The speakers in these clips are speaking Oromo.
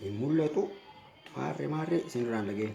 hin mul'atu maarree maarree isin irraan dhaga'e.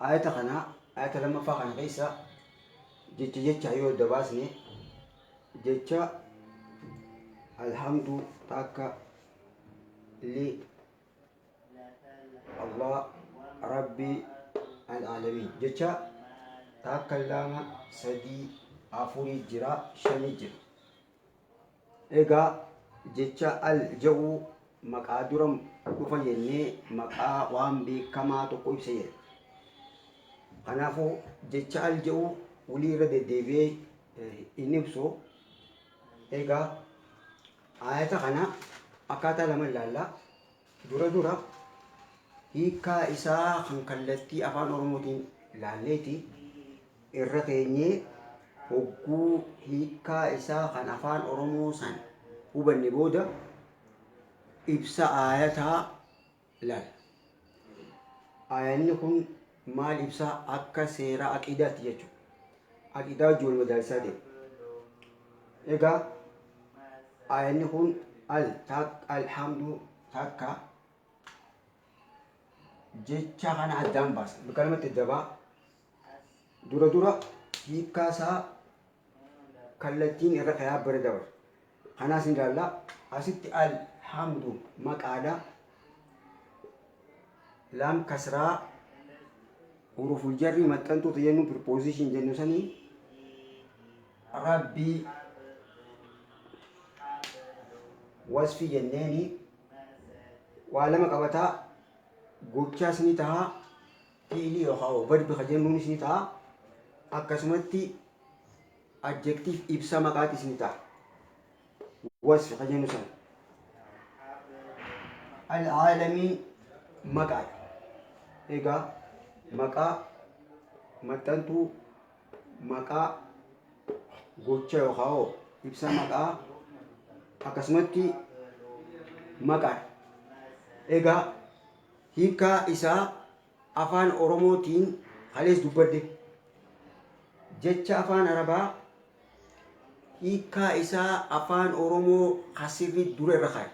ayata kana ayata lammaffaa kana keessa jecha jecha yoo adda baasne jecha alhamdu takka li allah rabbi alaalamiin jecha takka lama sadii afurii jira shanii jira Egaa jecha al ja'u maqaa dura dhufa jennee maqaa waan beekamaa tokko ibsa jedha. Kanaafuu jecha al ja'u wulii irra deddeebi'ee eh, hin ibsu. Egaa ayata kana akkaataa lama ilaalla. Dura dura hiikkaa isaa kan kallattii Afaan Oromootiin laalleeti irra teenyee hogguu hiikkaa isaa kan Afaan Oromoo san hubanne booda ibsa aayataa laalla. Aayanni kun maal ibsa akka seera aqiidaatti jechu aqiidaa wajji wal madaalsisaa deema egaa aayanni kun al tak alhamdu takka jecha kana addaan baasa bikalamatti dabaa dura dura hiikkaa isaa kallattiin irra kayaa bira dabarsa Kanaas ni ilaalla. Asitti al hamdu maqaadha. Laam kasraa huruful jarrii maxxantuu ta'e jennu preposition jennu sanii rabbii wasfii jenneeni waa lama qabataa gochaas ni taha fiilii yookaan verbi ka jennuunis ni taha akkasumatti Adjective ibsa maqaati isin taha. Wasfi ka jennu san. Al-aalami maqaadha. Egaa maqaa maxxantuu maqaa gocha yookaan hoo ibsa maqaa akkasumatti maqaadha. Egaa hiikaa isaa Afaan Oromoo tiin kalees dubbadhe. Jecha Afaan Arabaa hiikkaa isaa Afaan Oromoo ka sirrii dura irra kaaye.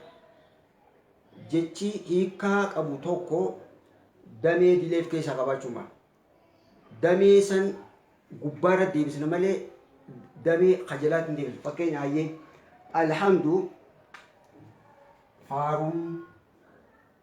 Jechi hiikkaa qabu tokko damee dilee of keessaa qabaachuu hin malu. Damee san gubbaa irra deebisna malee damee ka jalaatti hin deebisnu. Fakkeenya hayyee Alhamdu faaruu.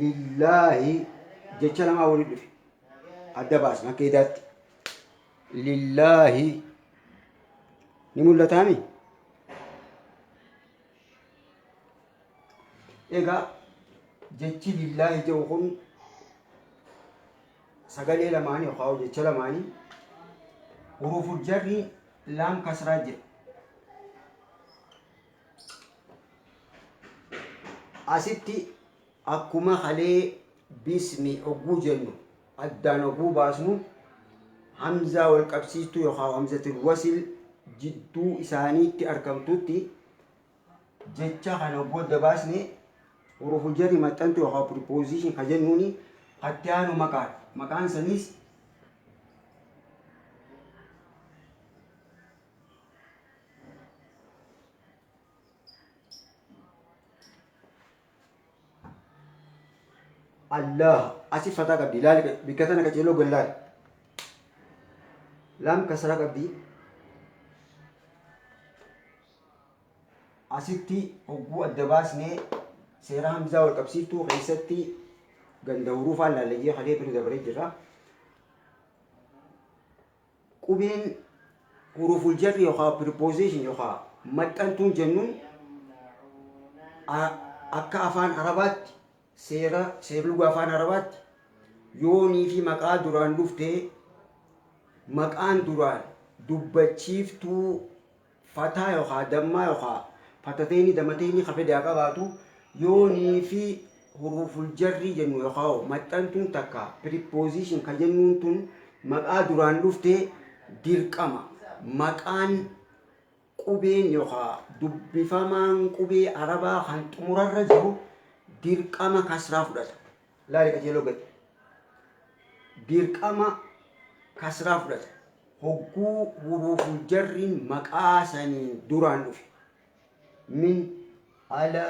Lillaahi jecha lamaa walitti dhufe. Adda baasna akka idaatti. Lillaahi ni mul'ataami. Egaa jechi lillaahi jedhu kun sagalee lamaanii yookaan jecha lamaanii huruuful jarri laam kasraa jedhu. Asitti akkuma kalee bismi ogguu jennu addaan ogguu baasnu hamzaa wal qabsiistuu yookaan hamzatul wasil jidduu isaaniitti argamtutti jecha kana ogguu adda baasne huruful jarri maxxantu yookaan preposition ka jennuuni katti aanu maqaadha. Maqaan saniis Allah asi fataa qabdi ilaali bikka tana qaceeloo gallaal laam kasara qabdi asitti hogguu adda baasnee seera hamzaa wal qabsiiftuu keessatti ganda huruufaan laallee kalee bira dabaree jirra. Qubeen huruful jarri yookaa preposition yookaa maxxantuun jennuun akka afaan arabaatti seera seerluga afaan arabaatti yoonii fi maqaa duraan dhuftee maqaan duraan dubbachiiftuu Fataa yookaa dammaa yookaa fatateeni damateeni ka fedhe haa qabaatu, yoonii fi huruuful jarrii jennu yookaa maxxantuun takka preposition ka jennuun tun maqaa duraan dhufte dirqama maqaan qubeen yookaa dubbifamaan qubee Arabaa kan xumurarra jiru dirqama kasraa fudhata. Laali qajeeloo gadi. Dirqama kasraa fudhata. Hogguu huruuful jarriin maqaa saniin duraan dhufe. Min, ala,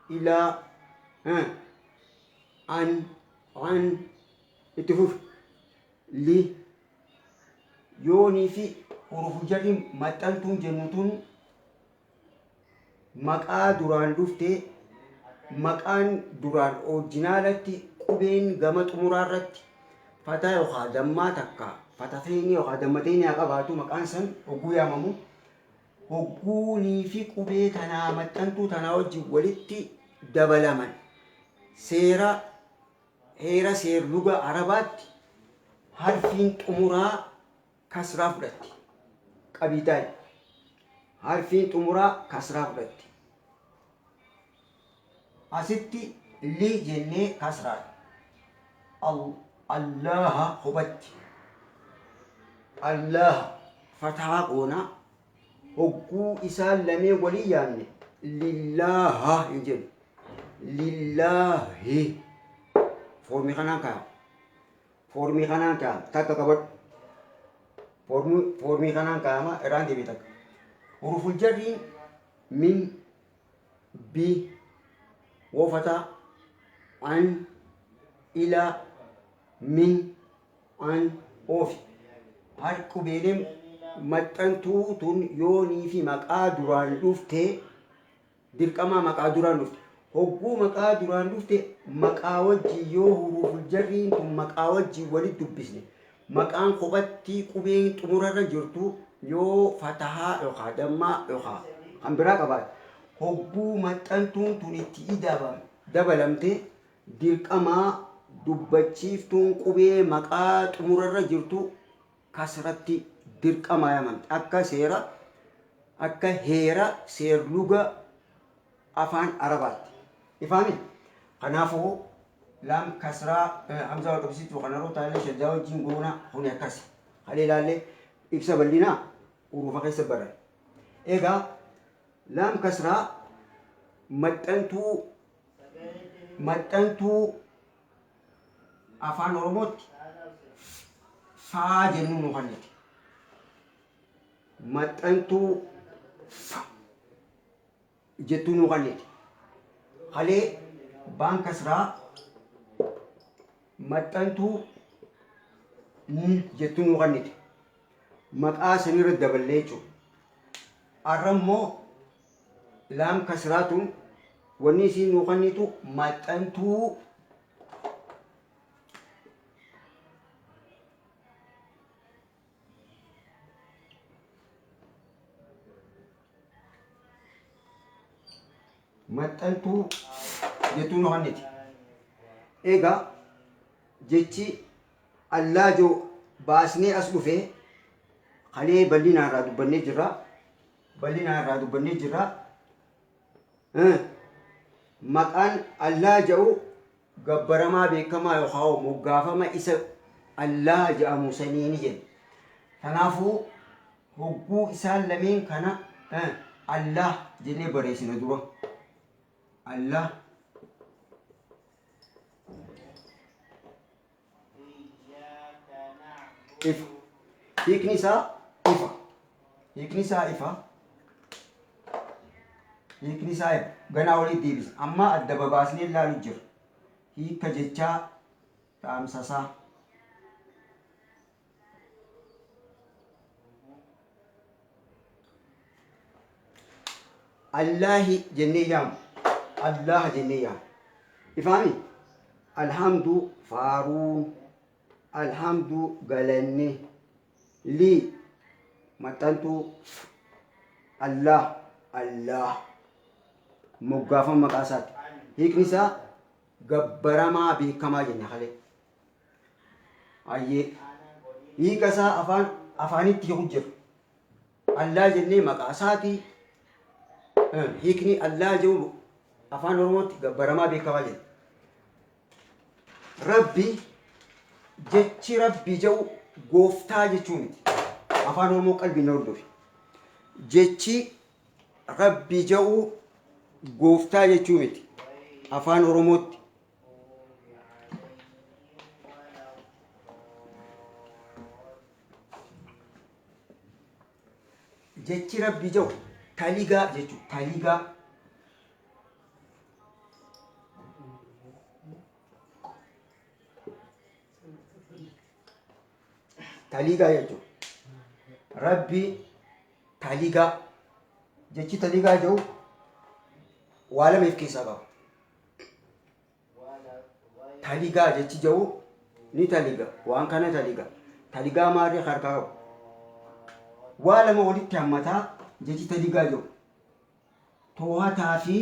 ila, ha, an, an, itti fufi. Li, yoonii fi huruuful jarriin maxxantuun jennu tun Maqaa duraan dhufte, Maqaan duraan orijinaalatti qubeen gama xumuraa irratti fata yookaan dammaa takka fatateynii yookaan dammateynii haa qabaatu maqaan san hogguu yaamamu hogguunii fi qubee tanaa maxxantuu tanaa wajjin walitti dabalaman seera heera seerluga arabaatti harfiin xumuraa kasraa fudhatti. Qabiidaay. Harfiin xumuraa kasraa fudhatti. Asitti li jennee kasraan. Al, Allaaha hubatti. Allaaha fatahaa goona. Hogguu isaan lamee walii yaanne lillaaha hin jennu. Lillaahi. Foormii kanaan kaa'ama. Foormii kanaan kaa'ama. Takka qabadhu. Foormii, foormii kanaan kaa'ama. Irraan deebi'e takka. Huruful jarriin min, bi, woofataa, an, ilaa, min, an, oofi. Har qubeeleen maxxantuu tun yoonii fi maqaa duraan dhuftee Dirqamaa maqaa duraan dhufte. Hogguu maqaa duraan dhufte maqaa wajjiin yoo huruuful jarriin tun maqaa wajjiin walit dubbisne maqaan kophattii qubeen xumurarra jirtu yoo fatahaa yookaa dammaa yookaa kan biraa qabaate hogguu maxxantuun tun itti idabam, dabalamte, dirqamaa dubbachiiftuun qubee maqaa xumurarra jirtu kasratti dirqamaa yamamti akka seera akka heera seerluga afaan arabaatti ifaami kanaafuu laam kasraa hamzaa wal qabsiistu kanaroo taalee shaddaa wajjiin goona kuni akkasi halee laallee ibsa bal'inaa uruufa keessa baran egaa laam kasraa maxxantuu maxxantuu Afaan Oromootti F jennu nu kennite. Maxxantuu F jettuu nu kennite. Kalee baan kasraa maxxantuu N jettuu nu kennite. Maqaa sanirra daballee jechuudha. Arra immoo Laam kasraa tun wanni isiin nuu kannitu maxxantuu maxxantuu jettuu nu kanniti. Egaa jechi allaajoo baasnee as dhufe kalee bal'inaan irraa dubbannee jirra. bal'inaa irraa dubbannee jirra. Maqaan Allaa ja'u gabbaramaa beekamaa yookaan moggaafama isa Allaa ja'amu saniini jenna. Kanaafuu hogguu isaan lameen kana Allaa jennee barreessina dura. Allaa. ifa hiikni isaa ifa hiikni isaa ifa hiikni isaa ifa ganaa walitti deebisa amma adda babaasnee ilaalu jira hiika jechaa dhaamsasaa Allaahi jennee yaamu. Allaaha jennee yaamu. Ifaami? Alhamdu faaruun. Alhamdu galanni. Lii maxxantuu. Allaah Allaah. Moggaafama maqaa isaati. Hiikni isaa gabbaramaa beekamaa jenna kalee. Hayyee. Hiika isaa afaan afaanitti hiiku jira. Allaa jennee maqaa isaatii eh, hiikni Allaa jedhu afaan Oromootti gabbaramaa beekamaa jira. Rabbi jechi Rabbi jedhu gooftaa jechuu miti. Afaan Oromoo qalbiin na hordofi. Jechi Rabbi jedhu gooftaa jechuu miti. Afaan Oromootti Jechi Rabbii jedhu taligaa jechuudha. Taligaa. Taligaa jechuudha. Rabbii taligaa. Jechi taligaa jedhu waa lama of keessaa qaba. Taligaa jechi jedhu ni taliga. Waan kana taliga. Taligaa maarree harkaa qabu. Waa lama walitti hammataa jechi taligaa jedhu. Toohataa fi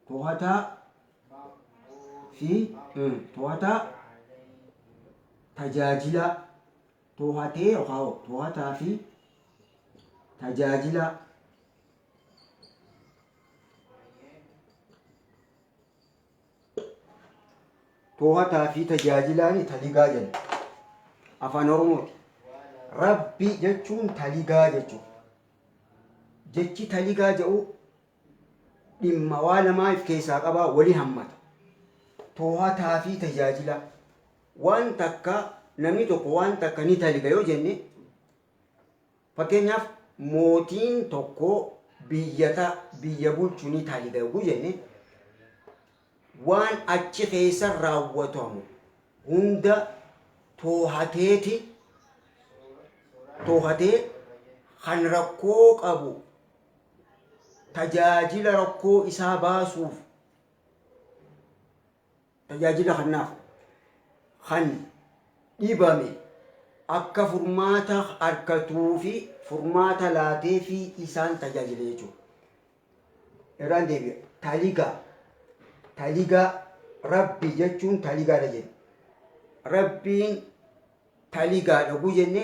toohataa fi mm, toohataa tajaajilaa Toohatee yookaan toohataa fi tajaajilaa. Toohataa fi tajaajilaan taligaa jenna. Afaan Oromooti. Rabbi jechuun taligaa jechuudha. Jechi taligaa jedhu dhimma waa lamaa if keessaa qabaa wali hammata. Toohataa fi tajaajilaa. Waan takka namni tokko waan takka ni daliga yoo jenne fakkeenyaaf mootiin tokko biyya ta biyya bulchu ni daliga yoo jenne waan achi keessa raawwatamu hunda toohateeti toohatee kan rakkoo qabu tajaajila rakkoo isaa baasuuf Tajaajila kannaaf kan dhibame akka furmaata arkatuu fi furmaata laatee fi isaan tajaajile jechuudha. Irraan deebi'a. Taligaa. Taligaa. Rabbi jechuun taligaadha jenna. Rabbiin taligaadha gu jenne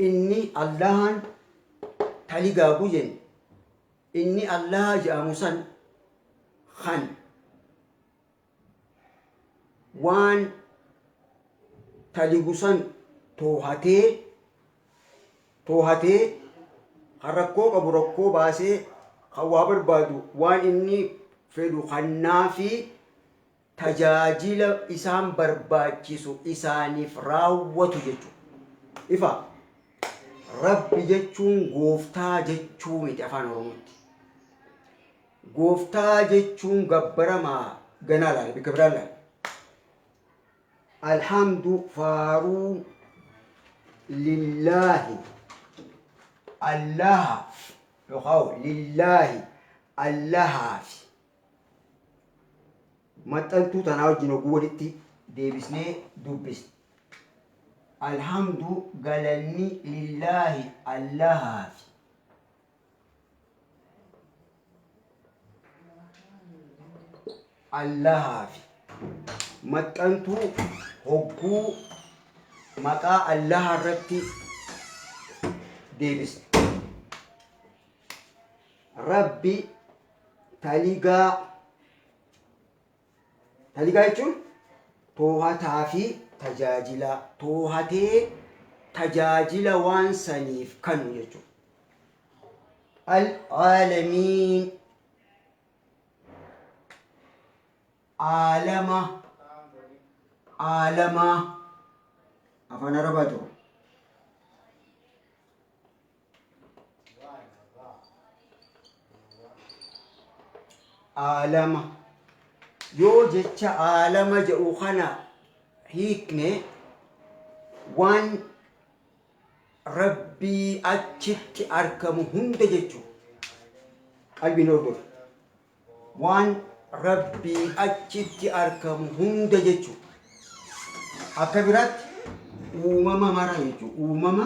inni Allahan taligaa gu jenne Inni Allaaha je'amu san kan waan taligu san toohatee, toohatee, kan rakkoo qabu rakkoo baasee, kan waa barbaadu waan inni fedhu kannaafii, tajaajila isaan barbaachisu isaaniif raawwatu jechuudha. Ifa? Rabbi jechuun gooftaa jechuu miti afaan Oromootti. Gooftaa jechuun gabbaramaa ganaa laala bikka biraa laala. Alhamdu faaruu lillaahi allahaaf yookaan lillaahi allahaaf maxxantuu tanaa wajjin hogguu walitti deebisnee dubbisne. Alhamdu galanni lillaahi Allahaafi. Allahaafi. Maxxantuu hogguu maqaa Allaha irratti deebisne. Rabbi taligaa taligaa jechuun toohataa fi tajaajilaa toohatee tajaajila waan saniif kanu jechuudha. Al-aalamiin aalama aalamaa afaan arabaa jiru. aalama yoo jecha aalama jedhu kana hiikne waan rabbii achitti argamu hunda jechuudha. Qalbiin hordofu. Waan rabbii achitti argamu hunda jechuudha. Akka biraatti uumama mara jechuudha. Uumama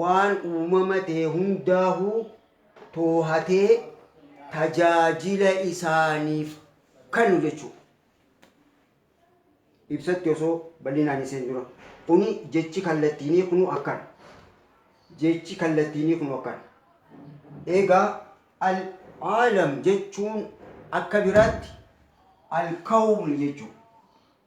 waan uumama ta'e hundaahuu toohatee tajaajila isaaniif kennu jechuudha. Ibsatti osoo bal'inaan hin seenin dura. Kuni jechi kallattiinii kunu akkana. Jechi kallattiinii kunu akkana. Egaa al-aalam jechuun akka biraatti al-kawni jechuudha.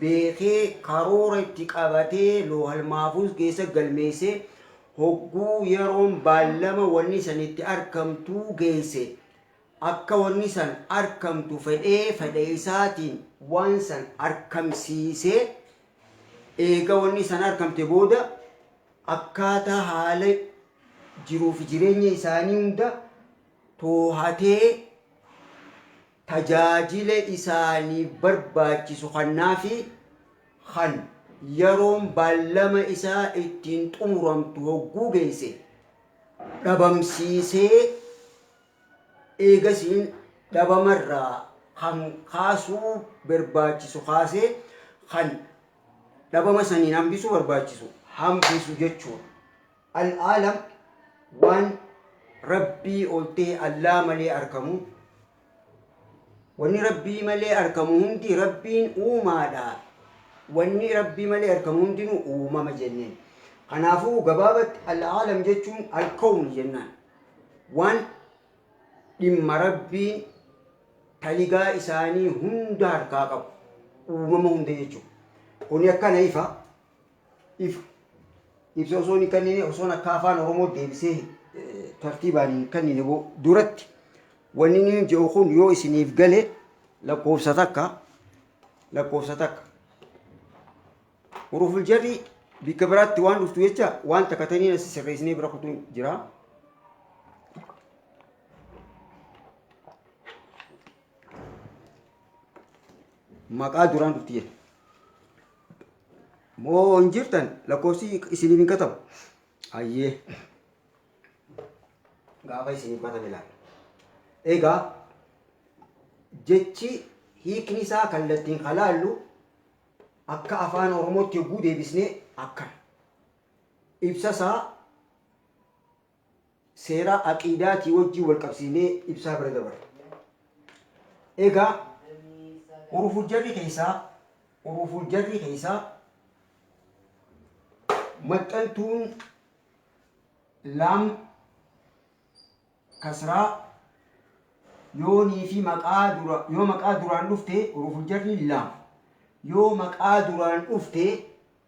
beekee karoora itti qabatee loohal maafuuz keessa galmeessee hogguu yeroon baallama wanni san itti arkamtuu geeyse akka wanni san arkamtu fedhee fedha isaatiin waan san arkamsiisee eega wanni san arkamte booda akkaataa haala jiruuf jireenya isaanii hunda toohatee tajaajila isaaniif barbaachisu kannaa fi kan yaroon baallama isaa ittiin xumuramtu hogguu geesse dhabamsiisee eegasiin dhabama irraa kan kaasuu barbaachisu kaasee kan dhabama saniin hambisuu barbaachisu hambisu jechuudha. Al-Aalam waan Rabbii oltee Allaa malee arkamu. Wanni Rabbii malee arkamu hundi Rabbiin uumaadha. Wanni Rabbii malee arkamu hundinuu uumama jenneen. Kanaafuu gabaabatti Al-Aalam jechuun Al-Kawni jennaan. Waan dhimma Rabbiin taligaa isaanii hunda harkaa qabu. Uumama hunda jechuudha. Kuni akkana ifa. ifa. Ibsa osoo hin kennine osoon akka afaan Oromoo deebisee eh, tartiibaan hin kennine bo- duratti wanni inni jedhu kun yoo isiniif gale lakkoofsa takka lakkoofsa takka huruful jarri bikka biraatti waan dhuftu jecha waan takka taniin asi sirreessinee bira kutuun jira. Maqaa duraan dhufti jedha. Moo hin jirtan lakkoofsi isiniif hin katabu. Hayyee. Gaafa isiniif katame ilaalla. Egaa jechi hiikni isaa kallattiin kan laallu akka afaan Oromootti yogguu deebisnee akkana. Ibsa isaa seeraa aqiidaatii wajjiin wal qabsiifnee ibsaa bira dabarra. Egaa Huruful Jarrii keessaa Huruful Jarrii keessaa maxxantuun Laam, Kasraa, Yoonii fi maqaa dura yoo maqaa duraan dhufte Huruful Jarriin Laam yoo maqaa duraan dhufte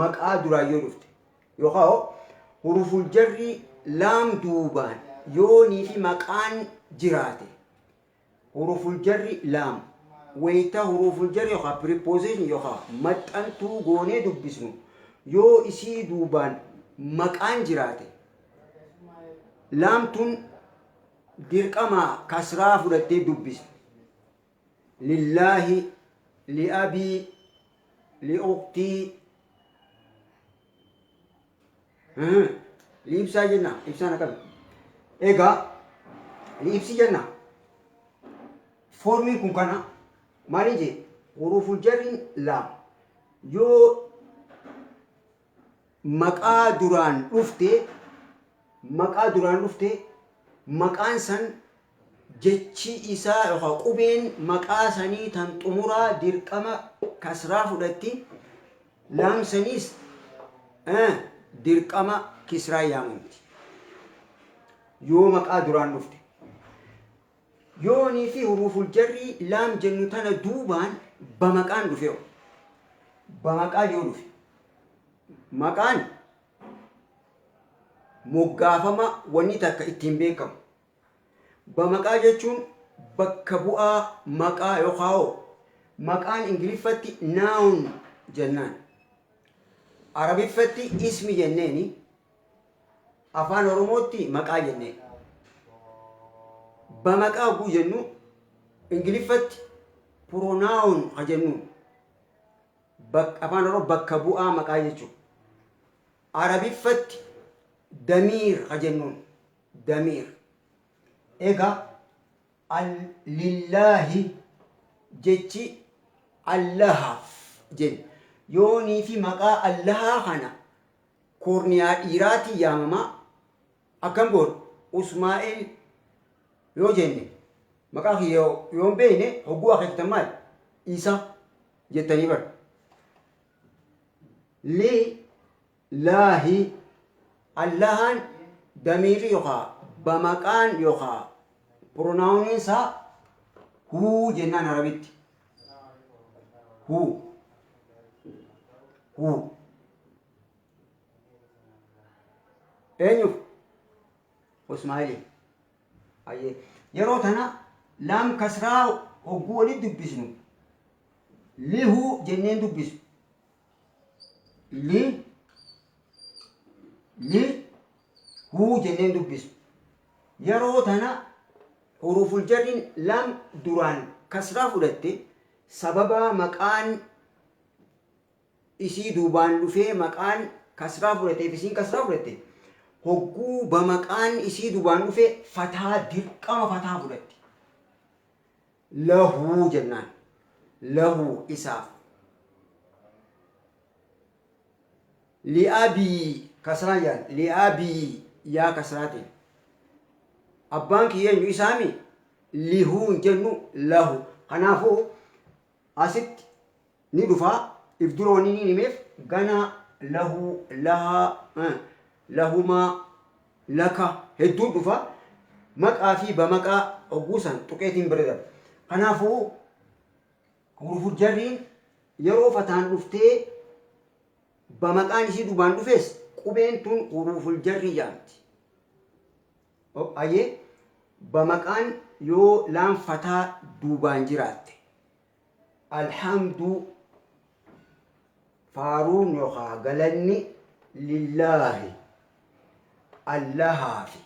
maqaa duraan yoo dhufte yookaan hoo huruful jarrii laam duubaan yoonii fi maqaan jiraate huruful jarri laam wayita huruful jarri yookaan preposition yookaan maxxantuu goonee dubbisnu yoo isii duubaan maqaan jiraate laamtuun dirqamaa kasraa fudhattee dubbisna. Lillaahi Li abii Li uktii Mhm. Li ibsaa jenna ibsaan akkami egaa li ibsi jenna foormiin kun kana maaliin jee huruuful jarriin laam yoo maqaa duraan dhufte maqaa duraan dhufte maqaan san jechi isaa yookaan qubeen maqaa sanii tan xumuraa dirqama kasraa fudhatti laam saniis eh, dirqama kisraa yaamamti yoo maqaa duraan dhufte Yoonii fi huruuful jarrii laam jennu tana duubaan ba maqaan dhufeho? Ba maqaan yoo dhufe, maqaan moggaafama wanni takka ittiin beekamu. Ba maqaa jechuun bakka bu'aa maqaa yookaa hoo maqaan Ingiliffatti noun jennaan. Arabiffatti ismi jenneeni Afaan Oromootti maqaa jennee. Bamaqaa hogguu jennu Ingiliffatti pronoun ha jennuun. Bak- Afaan Oromoo bakka bu'aa maqaa jechuudha. Arabiffatti damiir ha jennuun. Damiir. Egaa al- lillaahi jechi allahaaf jenna. Yoonii fi maqaa allahaa kana koorniyaa dhiiraatiin yaamama. Akkam goona? Usmaa'el yoo jenne maqaa kiyya yoo hin beekne hogguu akeektan maali? Isa jettanii bar. Li laahi Allahaan damiirri yookaa bamaqaan yookaa pronaawuniin isaa huu jennaan arabitti. Huu. Huu. eenyuuf usmaa'iliif ayyee yeroo tana laam kasraa hogguu walitti dubbisnu lihu jenneen dubbisu li li huu jenneen dubbisu yeroo tana huruuful jarriin laam duraan kasraa fudhatte sababa maqaan isii duubaan dhufee maqaan kasraa fudhateef isiin kasraa fudhatte hogguu bamaqaan isii dubaan dhufe fataa dirqama fataa fudhatti lahuu jennaan lahuu isaaf li'abii kasraa jaan li'abii yaa kasraatiin abbaan kiyya eenyu isaami lihuun jennu lahu kanaafuu asitti ni dhufaa if dura wanni niin himeef ganaa lahuu lahaa eh, lahumaa laka hedduun dhufa maqaa fi bamaqaa ogguusan tuqeetiin bira darba kanaafuu huruful jarriin yeroo fataan dhuftee bamaqaan isii dubaan dhufes qubeen tun huruful jarrii jaamti ok aye bamaqaan yoo laan fataa duubaan jiraatte alhaamduu faaruun yokaa galanni lillaahi allahaafi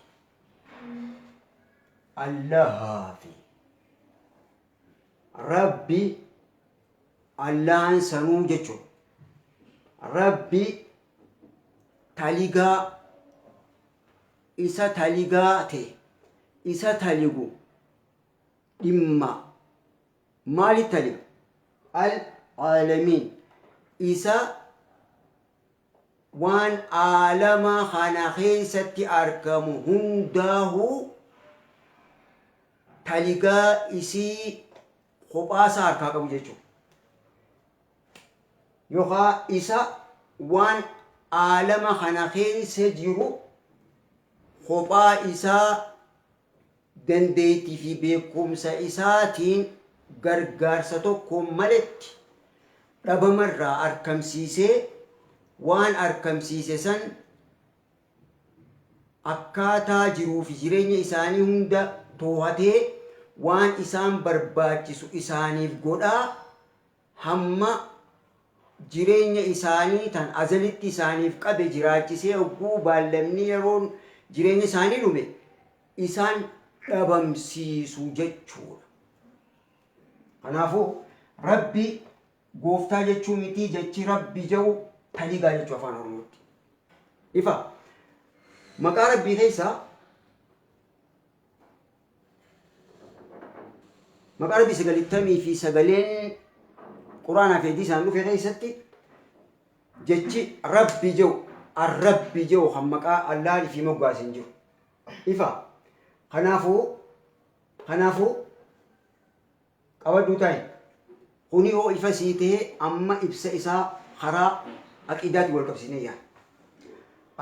allahaafi rabbi allahan sanuu jechuun rabbi taligaa isa taligaa te, isa taligu dhimma maali taliga? Al aalamiin isa waan aalama kana keessatti argamu hundaahu taligaa isii kophaa isaa harkaa qabu jechuudha. yookaa isa waan aalama kana keessa jiru kophaa isaa dandeettii fi beekumsa isaatiin gargaarsa tokkoon maletti dhabamarraa arkamsiisee waan arkamsiise san akkaataa jiruu fi jireenya isaanii hunda toohatee waan isaan barbaachisu isaaniif godhaa hamma jireenya isaanii tan azalitti isaaniif qabe jiraachisee hogguu baallamni yeroon jireenya isaanii dhume isaan dhabamsiisu jechuudha. Kanaafu Rabbi gooftaa jechuu mitii jechi Rabbi ja'u taligaa jechuu afaan Oromootti. Ifa maqaa Rabbii keessaa Maqaa Rabbii sagalittamii fi sagaleen Quraanaa fi Hadiisaan dhufe keessatti jechi Rabbi jedhu Ar-Rabbi jedhu kan maqaa Allaah fi moggaase hin jiru. Ifa. Kanaafuu kanaafuu Qabadhuu taa'i. Kuni hoo ifa sii tahe amma ibsa isaa karaa aqiidaatiin wal qabsiisnee yaa.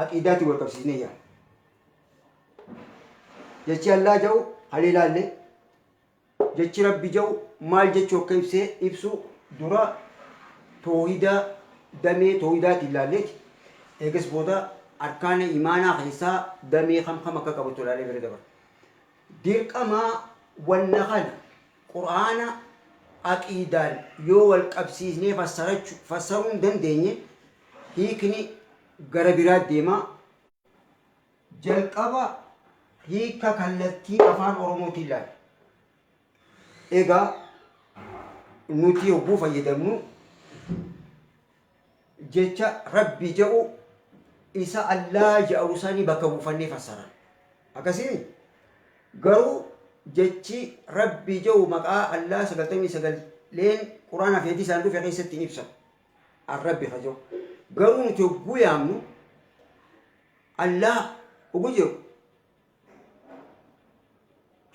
Aqiidaatiin wal qabsiisnee yaa. Jechi Allaa ja'u kalee laalle jechi Rabbi ja'u maal jechuu akka ibsee ibsu dura toohidaa damee toohidaatiin laalleeti. Eegas booda arkaana imaanaa keessaa damee kam kam akka qabatu laalee bira dabarra. Dirqamaa wanna kana Qur'aana aqiidaan yoo wal qabsiisnee fassarachu fassaruu hin dandeenye hiikni gara biraa deema. Jalqaba hiika kallattii afaan Oromootiin ilaalla. Egaa nuti yogguu fayyadamnu jecha Rabbi ja'u isa Allaah ja'u sani bakka buufannee fassaran. Akkasii mii? Garuu jechi Rabbi ja'u maqaa Allaah 99 leen Qur'aanaa fi Hadiisaan dhufe keessatti hin ibsamu. Ar-Rabbi ka ja'u. Garuu nuti hogguu yaamnu Allaah hogguu jedhu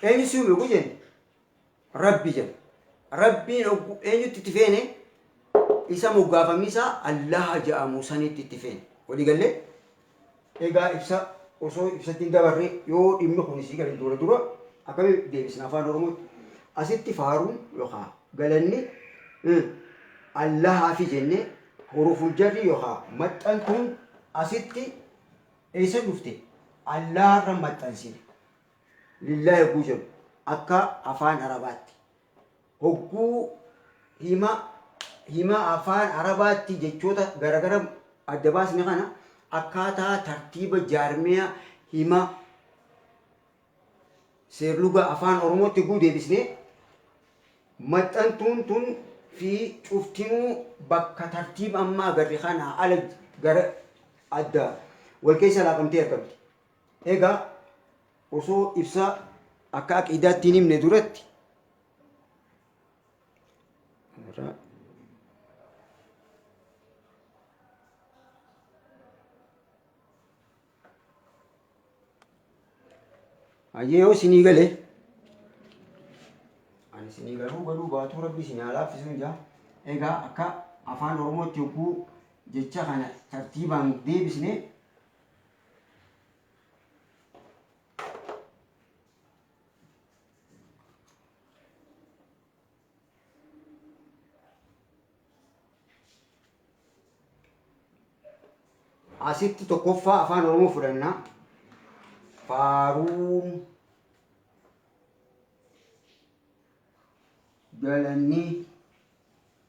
eenyu si uume hogguu jennu Rabbi jedha. Rabbiin oggu eenyutti itti feene isa moggaafamni isaa Allaha ja'amu sanitti itti feene. Walii gallee? Egaa ibsa osoo ibsatti hin dabarre yoo dhimmi kun isii gale dura dura akkami deebisna afaan Oromootti? Asitti faaruun yookaa galanni eh, Allahaafi jennee huruful jarri yookaa maxxantuun asitti eessa dhufte? Allaharra maxxansine. lillaa yogguu jennu akka afaan arabaatti hogguu hima hima afaan arabaatti jechoota garagara adda baasne kana akkaataa tartiiba jaarmiya hima seerluga afaan oromootti hogguu deebisne maxxantuun tun fi cuftinuu bakka tartiiba ammaa agarre kanaa ala gara adda wal keessa laaqamtee argamti. Egaa osoo ibsa akka aqiidaatti hin himne duratti Hayyee yoo isinii gale ani isinii galuu galuu baatuu rabbi isin haa laaffisuun jaa egaa akka afaan oromootti yogguu jecha kana tartiibaan deebisne asitti tokkoffaa afaan oromoo fudhanna faaruun galanni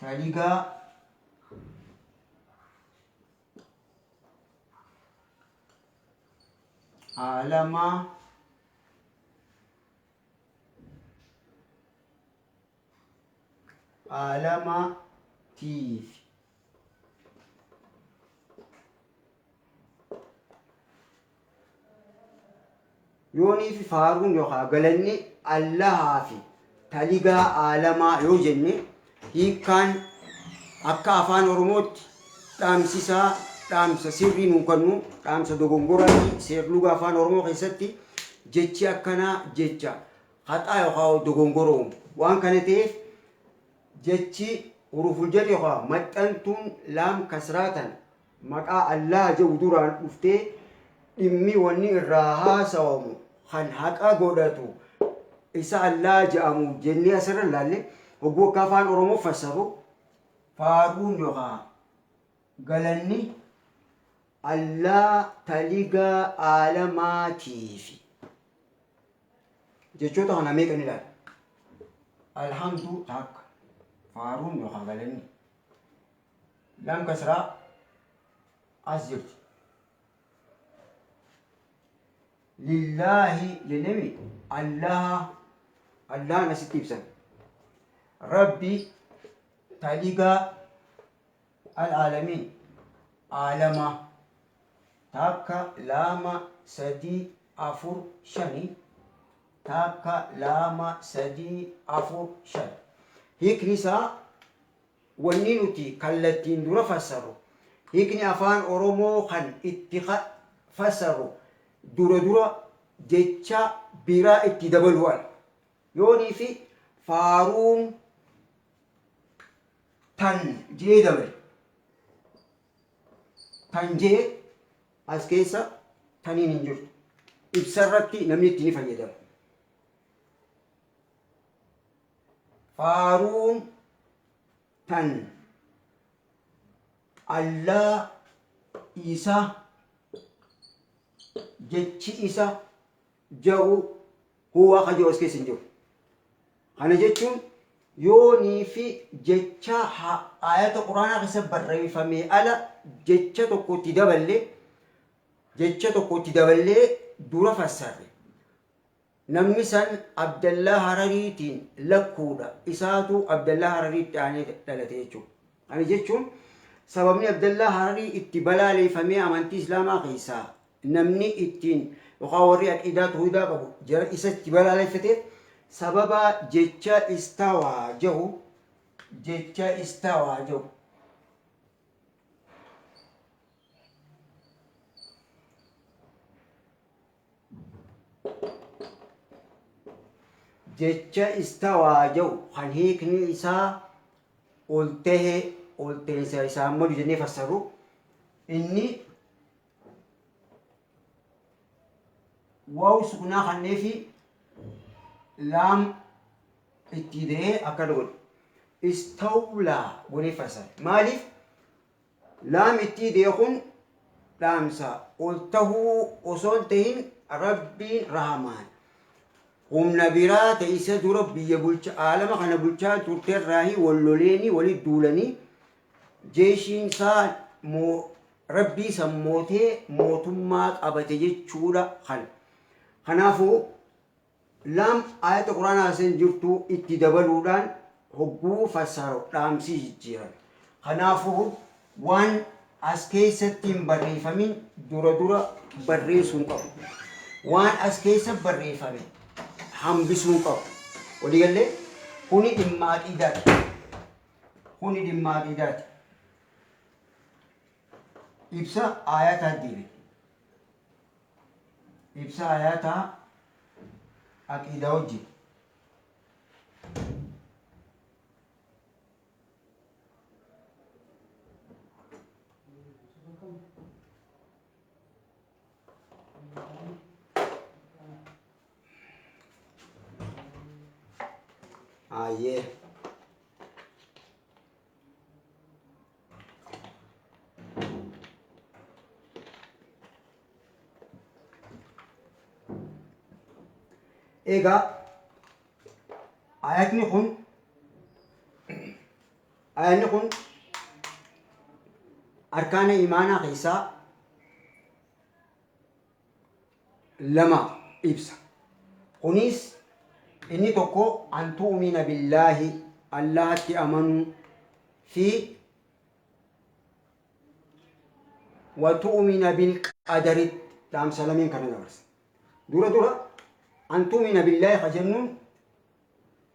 taligaa alamaa alamaa tiif Yooniifi faaruun yookaa galanni Allahaafi taligaa aalamaa yoo jenne hiikkaan akka afaan oromootti dhaamsisaa dhaamsa sirrii nuu kannu dhaamsa dogongoraati seerluga afaan oromoo keessatti jechi akkanaa jecha haxaa yookaa dogongoroom waan kana ta'eef jechi huruful jar yookaa maxxantuun laam kasraatan maqaa Allaah je'u duraan dhuftee dhimmi wanni irraa haasawamu kan haqa godhatu isa Allaah je'amu jennee asirra laalle hogguu akka afaan Oromoo fassarru faarruun yookaa galanni Allaah taliga aalamaatiifi jechoota kana meeqa ni ilaalla alhamdu takka faarruun yookaa galanni Laam kasraa as jirti. Lillaahi jennemi Allaha Allahan asitti ibsan. Rabbi taligaa al'aalamiin aalama takka laama sadii afur shani takka laama sadii afur shan. Hiikni isaa Wanni nuti kallattiin dura fassarru, hiikni Afaan Oromoo kan itti fassarru dura dura jecha biraa itti dabaluu ala. Yoonii fi faaruun tan je'ee dabale. Tan je'e as keessa taniin hin jirtu. Ibsarratti namni itti ni fayyadama. Faaruun tan Allaa isa jechi isa ja'u huwa kan jiru as keessa hin jiru. Kana jechuun yoonii fi jecha ha- ayata quraanaa keessa barreeffamee ala jecha tokko itti daballee jecha tokko itti daballee dura fassarre. Namni san Abdallaa Harariitiin lakkuudha. Isaatu Abdallaa Harariitti aanee dhalate jechuudha. Kana jechuun sababni Abdallaa Hararii itti balaaleeffamee amantii Islaamaa keessaa namni ittiin yookaan warri aqiidaa toohidaa qabu jara isa itti balaaleeffate sababa jecha istawaa jahu jecha istawaa jahu Jecha istawaa jedhu kan hiikni isaa ol tahe ol teensa isaan malu jennee fassarru inni waawu sukunaa kannee fi laam itti ida'ee akkana godhe istawlaa godhee fassara maaliif Laam ittii deekun dhaamsa ol tahuu osoo hin tahin Rabbiin Rahmaan humna biraa ta isa dura biyya bulcha aalama kana bulchaa turte irraahi wal loleeni wali duulani jeeshiin isaa moo Rabbii san mootee mootummaa qabate jechuudha kan kanaafuu Lam, Aayata Qur'aanaa san jirtu itti dabaluudhaan hogguu fassaru dhaamsi jijjiirame. Kanaafu, waan as keessatti hin barreeyfamin dura dura barreeysuu hin qabu. Waan as keeysa barreeyfame hambisuu hin qabu. Walii gallee? Kuni dhimma aqiidaati. Kuni dhimma aqiidaati. Ibsa aayataa deebine. Ibsa Ayaata Aqiidaa Hojji. Ayyee. Egaa ayatni kun ayatni kun arkaana imaanaa keessaa 2 ibsa. Kuniis inni tokko an tu'umina billaahi Allahatti amanuu fi wa tu'umina bil qadaritti dhaamsa lameen kana dabarsa. Dura dura an tu'umina billaahi ka jennuun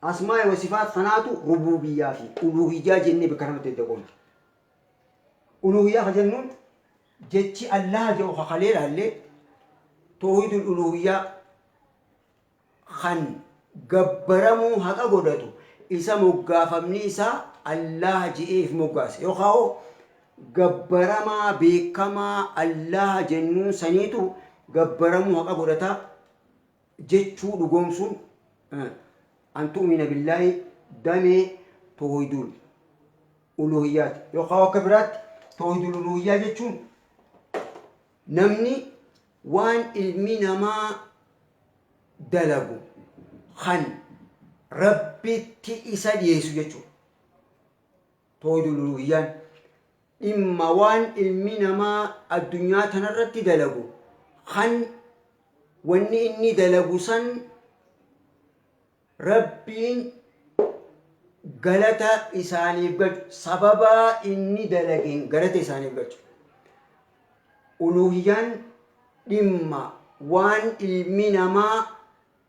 Asmaa'i wa sifaat kanaatu rubuubiyyaa fi uluuhiyyaa jennee bakka lamatti adda qoonna. Uluuhiyyaa ka jennuun jechi Allaaha jedhu ka kalee laalle towhiidul uluuhiyyaa kan gabbaramuu haqa godhatu isa moggaafamni isaa Allaaha je'ee if moggaase yookaa hoo gabbaramaa beekamaa Allaaha jennuun saniitu gabbaramuu haqa godhata jechuu dhugoomsuun an tu'umina billaahi damee toohidul uluuhiyyaati yookaan akka biraatti toohidul uluuhiyyaa jechuun namni waan ilmi namaa dalagu kan rabbitti isa dhiyeessu jechuudha. Tawhiidul Uluuhiyyaan dhimma waan ilmi namaa addunyaa tanarratti dalagu kan wanni inni dalagu san rabbiin galata isaaniif galchu sababaa inni dalageen galata isaaniif galchu uluuhiyyaan dhimma waan ilmi namaa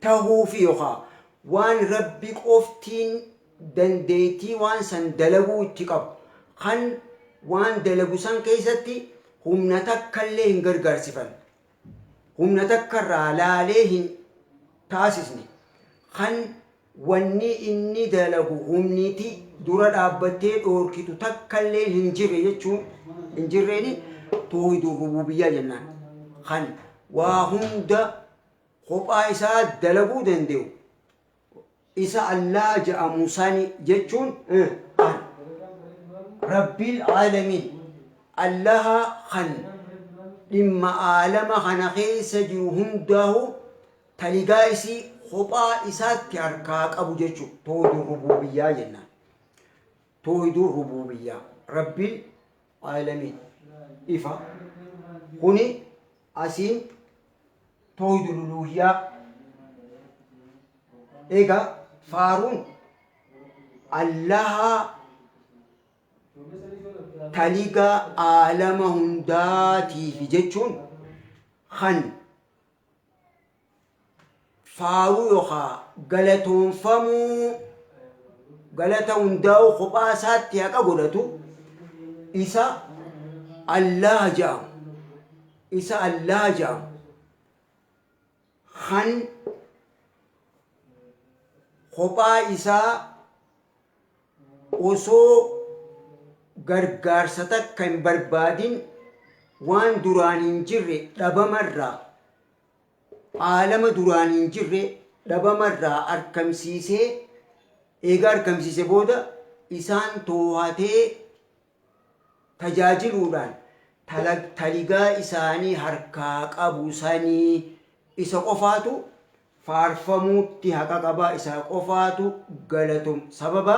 tahuufi yookaa waan Rabbi qoftiin dandeeytii waan san dalaguu itti qabu, kan waan dalagu san keeysatti humna takkallee hin gargaarsifanne, humna takkarraa laalee hin taasisne, kan Wanni inni dalagu humniti dura dhaabbattee dhoorkitu takkalleen hin jirre jechuun hin jirreeni toohidul rubuubiyyaa jennaan. Kan waa hunda kophaa isaa dalaguu dande'u isa Allaah je'amu sani jechuun an Rabbil aalamiin Allaha kan dhimma aalama kana keessa jiru hundaahuu taligaa isii kophaa isaatti harkaa qabu jechu toohiduu rubuubiyyaa jennaan toohiduu rubuubiyyaa rabbiin aalamiin ifa kuni asiin toohiduu luluuhiyyaa egaa faaruun allahaa taligaa aalama hundaatiifi jechuun kan faaruu yookaa galatoonfamuu galata hundaa'uu kophaa isaatti haqa godhatu isa Allaha ja'amu isa Allaha ja'amu kan kophaa isaa Osoo gargaarsa takka hin barbaadin waan duraan hin jirre dhabama irraa, aalama duraan hin jirre dhabama irraa arkamsiisee, eega arkamsiise booda isaan toohatee tajaajiluudhaan taligaa isaanii harkaa qabu sanii isa qofaatu faarfamuutti haqa qaba isa qofaatu galatom sababa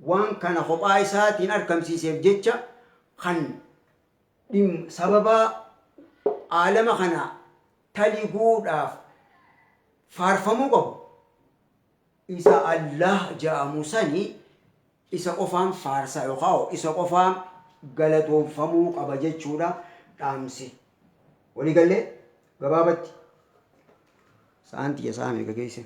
waan kana kophaa isaatiin arkamsiiseef jecha kan dhim sababa aalama kana taliguudhaaf faarfamuu qabu isa Allaah ja'amu sani isa qofaan faarsa yookaa isa qofaa galatoomfamuu qaba jechuudha dhaamsi. Walii gallee gabaabatti. Sa'aan tiyya sa'a meeqa geesse?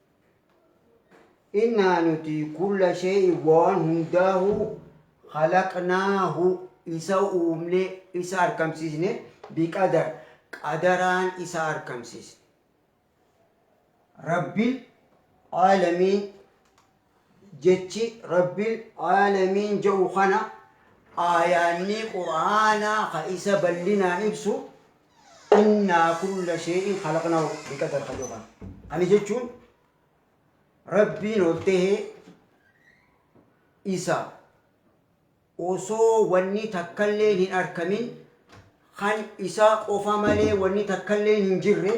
Innaa nuti kulla shee'i waan hundaahu halaqnaahu isa uumne isa arkamsiisne biqadar qadaraan isa arkamsiisne. Rabbil aalamiin jechi rabbil aalamiin ja'u kana aayaannii qur'aanaa ka isa ballinaan ibsu Innaa kulla shee'in khalaqnaahu biqadar ka jedhu kana. Kana jechuun Rabbiin ol tahee isa osoo wanni takkalleen hin arkamin kan isaa qofa malee wanni takkalleen hin jirre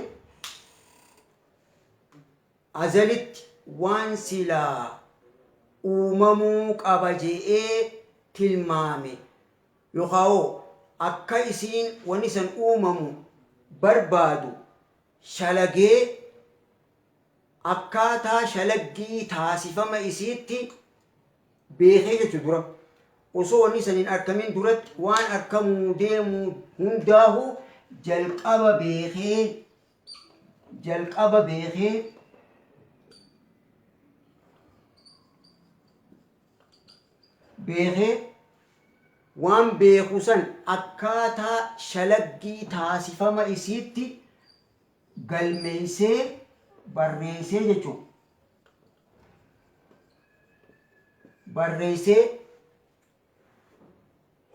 Azalitti waan silaa uumamuu qaba je'ee tilmaame, yookaawoo akka isiin wanni san uumamu barbaadu shalagee, akkaataa shalaggii taasifama isiitti beekee jechu dura, osoo wanni san hin arkamin duratti waan arkamuu deemu hundaahuu jalqaba beekee, jalqaba beekee beekee waan beeku san akkaataa shalaggii taasifama isiitti galmeeysee barreeysee jechuun barreeysee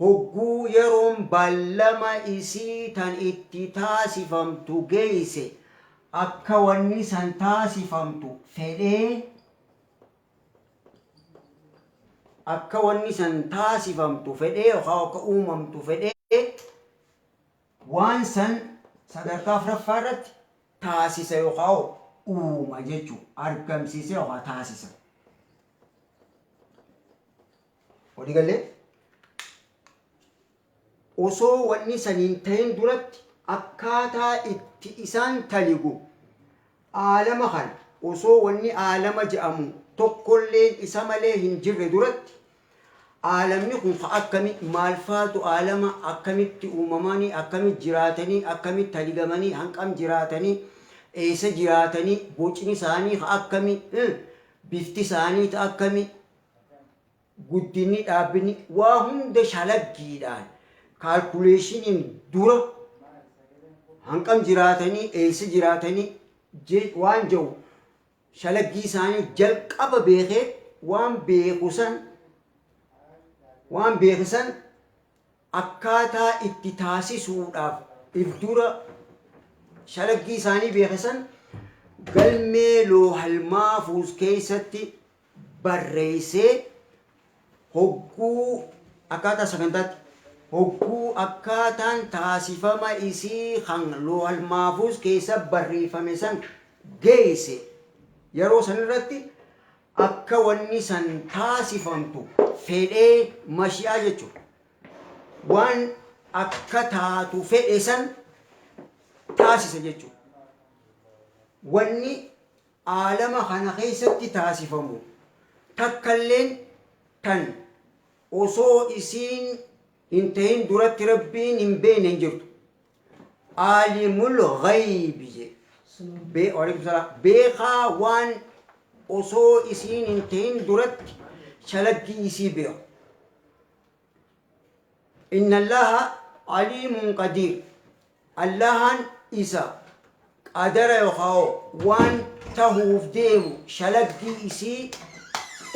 Hogguu yeroon ballama isii tan itti taasifamtu geeyse, akka wanni san taasifamtu fedhee, akka wanni san taasifamtu fedhee yookaan akka uumamtu fedhee, waan san sadarkaa afraffaa irratti taasisa yookaan uuma jechuu, argamsiisa yookaan taasisa. Walii gallee? Osoo wanni san hin tahin duratti akkaataa itti isaan taligu aalama kana osoo wanni aalama je'amu tokkolleen isa malee hin jirre duratti aalamni kun ka akkami maalfaatu aalama akkamitti uumamanii akkamitti jiraatanii akkamitti taligamanii hanqam jiraatanii eessa jiraatanii bocni isaanii ka akkami bifti isaanii ta akkami Guddinni dhaabbinni waa hunda shalaggiidhaan, kaalkuleeshiniin dura hanqam jiraatanii, eessa jiraatanii je- waan jedhu shalaggii isaanii jalqaba beekee waan beeku san waan beeke san akkaataa itti taasisuudhaaf if dura shalaggii isaanii beeke san galmee loohal maafuuz keessatti barreessee hogguu akkaataa sagantaatti hogguu akkaataan taasifama isii kan loohal maafuuz keessa barreeffame san geeyse yeroo san irratti akka wanni san taasifamtu fedhee mashi'aa jechu waan akka taatu fedhe san taasisa jechu wanni aalama kana keessatti taasifamu takkalleen tan osoo isiin hin tahin duratti Rabbiin hin beeyne hin jirtu. Aalimul ghaybi je. Be, waalaikum salaam. Beekaa waan osoo isiin hin tahin duratti shalaggii isii beeku. Innallaha aliimun qadiir Allahaan isa qadara yokhaawoo waan tahuuf deemu shalaggii isii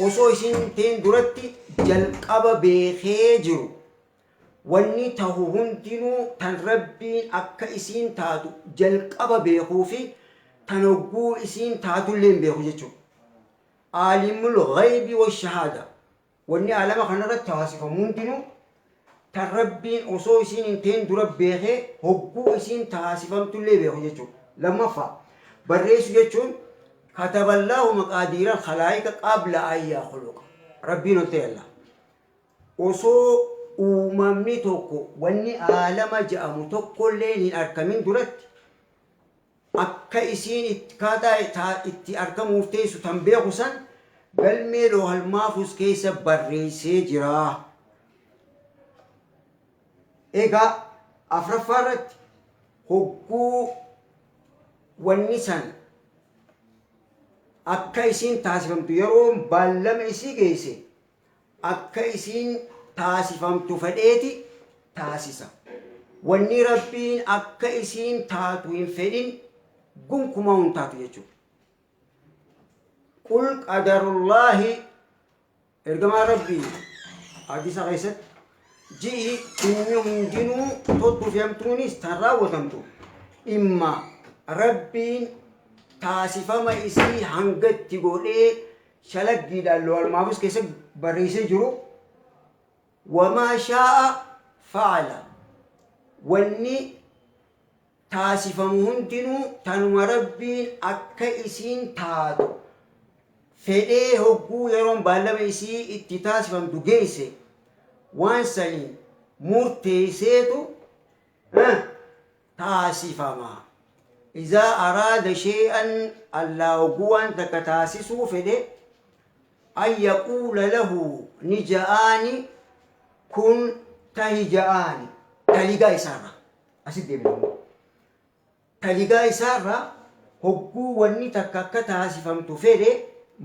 osoo isiin hin tahin duratti jalqaba beekhee jiru wanni tahu hundinuu tan Rabbiin akka isiin taatu jalqaba beekhuu fi tan hogguu isiin taatulleen beekhu jechuudha. Aalimul ghaybi washahaada Wanni aalama kanarratti taasifamu hundinuu tan Rabbiin osoo isiin hin ta'in dura beekee hogguu isiin taasifamtullee beeku jechuudha. Lammaffaa, barreessu jechuun kataballaahu maqaadiiral khalaa'ika qabla an yakhluqa. Rabbiin ol ta'e Allah. Osoo uumamni tokko wanni aalama ja'amu tokkolleen hin arkamin duratti akka isiin itt kaataa ta itti akka muurteessu tan beeku san galmee loohal maafuuz keessa barreeysee jira. Egaa afraffaa irratti hogguu wanni san akka isiin taasifamtu yeroon baallama isii geeyse akka isiin taasifamtu fedheeti taasisa. Wanni Rabbiin akka isiin taatu hin fedhin gonkumaa hin taatu jechuudha. Qul qadarullaahi ergamaa Rabbii hadiisa keessatti ji'i inni hundinuu toltuu fi hamtuunis tan raawwatamtu dhimma Rabbiin taasifama isii hangatti godhee shalaggiidhaan loohal mahfuuz keessatti barreessee jiru wamaa shaa'a fa'ala wanni taasifamu hundinuu tanuma rabbiin akka isiin taatu fedhee hogguu yeroon baallama isii itti taasifamtu geesse waan saniin murteesseetu taasifama. Izaa araada shay'an Allaah hogguu waan takka taasisuu fedhe an yaquula lahu ni ja'aani kun tahi ja'aani taligaa isaarra asit deebina immoo taligaa isaarra hogguu wanni takka akka taasifamtu fedhe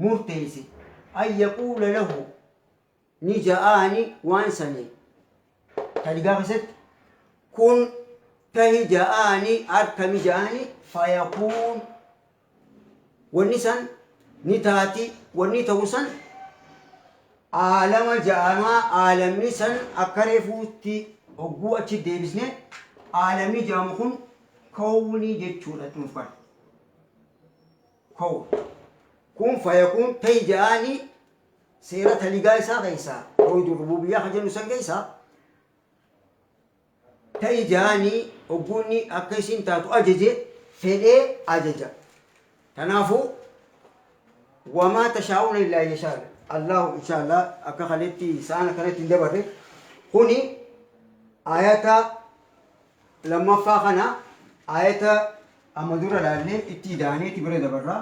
murteeyse an yaquula lahu ni ja'aani waan sani taligaa keessatti kun tahi ja'aani arkami ja'aani fayakuun wanni san ni taati wanni ta'u san aalama ja'amaa aalamni san akka reefuutti hogguu achi deebisne aalamni ja'amu kun kowni jechuudha nuuf kana kow kun fayakuun tahi ja'aani Seera taligaa isaa keessa tawhiidul rubuubiyyaa ka jennu san keessa ta ijaani ogguunni akka isiin taatu ajaje fedhee ajaja. Tanaafu wamaa tashaa'uuna illaa an yashaa Allaahu inshaallah akka kaletti sa'aan akkanatti hin dabarre kuni ayata lammaffaa kana ayata amma dura laallee itti idaaneeti bira dabarraa.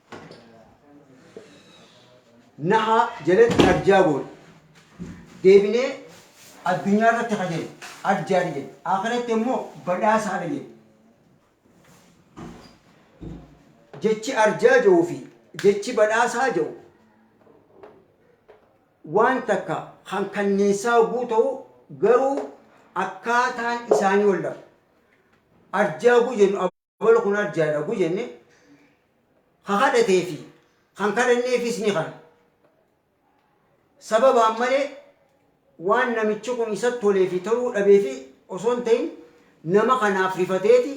Nahaa jalatti arjaa goone. Deebinee addunyaa irratti ka jennu arjaadha jenna. Akhiratti immoo badhaasaadha jenna. Jechi arjaa jedhuu fi jechi badhaasaa jedhu waan takka kan kanniinsaa hogguu ta'u garuu akkaataan isaanii wal dhabu. Arjaa hogguu jennu Ol kun arjaa dha gu jenne ka kadhatee fi kan kadhanneefis ni kana. Sababaan malee waan namichi kun isa tolee fi toluu dhabee fi osoo hin ta'in nama kanaaf rifateeti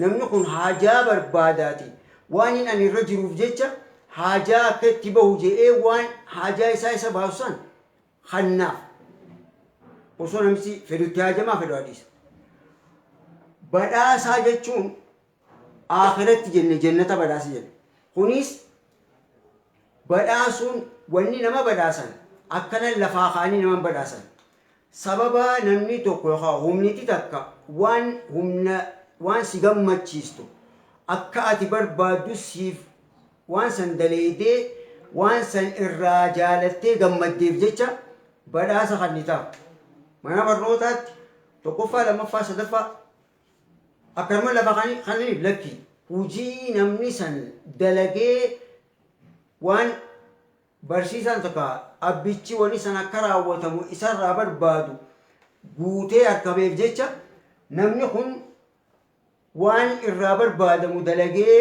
namni kun haajaa barbaadaati waan hin ani irra jiruuf jecha haajaa akka itti bahu je'ee waan haajaa isaa isa baasu san Kannaaf osoo namisi fedhu itti haajamaa fedhu haa dhiisa. Badhaasaa jechuun aakhiratti jenne jennata badhaasa jenna. Kunis badhaasuun wanni nama badhaasan akkanan lafaa kaanii naman badhaasan. Sababa namni tokko yookaan humniti takka waan humna waan si gammachiistu akka ati barbaaddu siif Waan san daleeydee waan san irraa jaalattee gammaddeef jecha badhaasa kannitaaf. Mana barnootaatti tokkoffaa, lammaffaa, sadaffaa akkanuma lafa kannaniif lakki. Hujii namni san dalagee waan barsiisaan takka abbichi wani san akka raawwatamu isarraa barbaadu guutee arkameef jecha namni kun waan irraa barbaadamu dalagee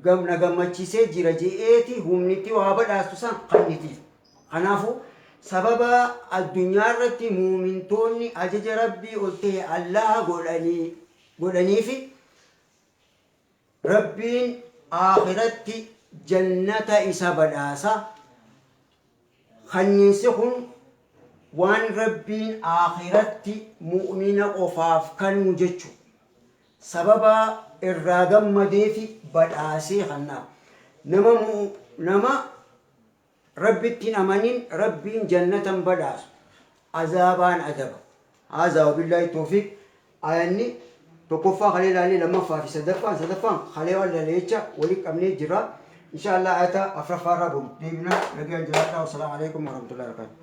gam na gammachiisee jira je'eeti humni itti waa badhaastu san kannitiif. Kanaafu sababa addunyaa irratti muumintoonni ajaja Rabbii ol tahe Allaha godhanii godhaniifi Rabbiin aakhiratti jannata isa badhaasa. Khanniinsi kun waan Rabbiin Aakhiratti mu'umina qofaaf kannu jechu. Sababa irraa gammadeefi badhaasee khanna. Nama nama Rabbitti hin amanin Rabbiin jannatan badhaasu, azaabaan adaba. Haazaa wabillaahi toofiiq Aayanni tokkoffaa kalee laalle lammaffaa fi sadaffaan sadaffaan kalee waan laalle jecha wali qabnee jirra inshaa Allah aayata afraffaa irraa boru deebina nagaan jiraadhaa wasalaamu alaikum warahmatullahi wabarakatuh